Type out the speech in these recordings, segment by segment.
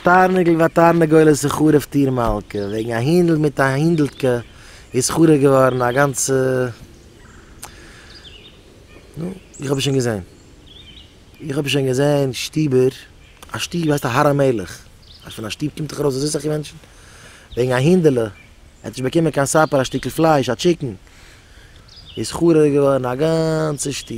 תרנגל ותרנגולת איז חרוב טיר מלכה, וועגן א הינדל מיט א הינדל'טקע איז חרוב געווארן א גאנצע, נו, איך האב עס שוין געזען. איך האב שוין געזען שטובער, א שטוב הייסט הר המלך, אז פון א שטוב קומט דאך ארויס אזוי סאך מענטשן, וועגן א הינדעלע, ער האט נישט באקומען קיין סאפער א שטיקל פלייש, א טשיקן, איז חרוב געווארן א גאנצע שטוב.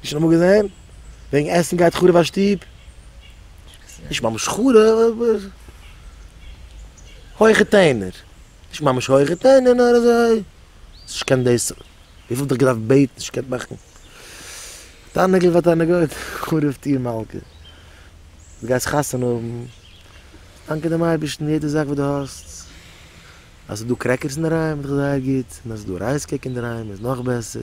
נישט נאכאמאל געזען. וועגן עסן גייט חרוב א שטוב. נישט ממש חרוב אבער. הויכע טענער. נישט ממש הויכע טענער נאר אזוי. נישט קיין דאס. וויפיל האט ער געדארפט בעטן נישט געקענט מאכן. תענוגות ביי תענוגות. חרוב טיר מלכה. דו גייסט חתונה האבן. דאנקען דעם אייבערשטן יעדע זאך וואס דו האסט. אז ס'איז דא קרעקערס אינדערהיים איז דאך זייער גוט. און אז ס'איז דא רייס קעיק אינדערהיים איז נאך בעסער.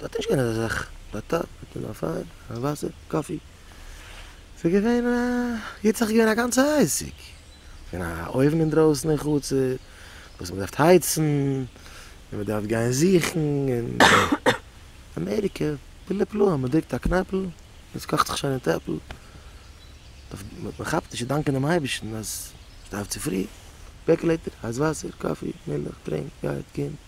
דארט איז נישט געווען אזא זאך ביי ת ת מיט נאר פיין און וואסער קאפי ס'איז געווען א גוט זאך איז געווען א גאנצע עסק און א אויוון אינדרויסן אין חצר וואס מ'דארף הייצן און מ'דארף גיין זוכן און אמעריקע פלא פלאים מ'דרוקט א קנעפל און ס'קאכט זיך שוין אין טעפל מ'כאפט נישט צו דאנקען דעם אייבערשטן אז ס'דארף צופרי פערקלעיטער הייס וואסער קאפי מילך טרינק גייט קומט.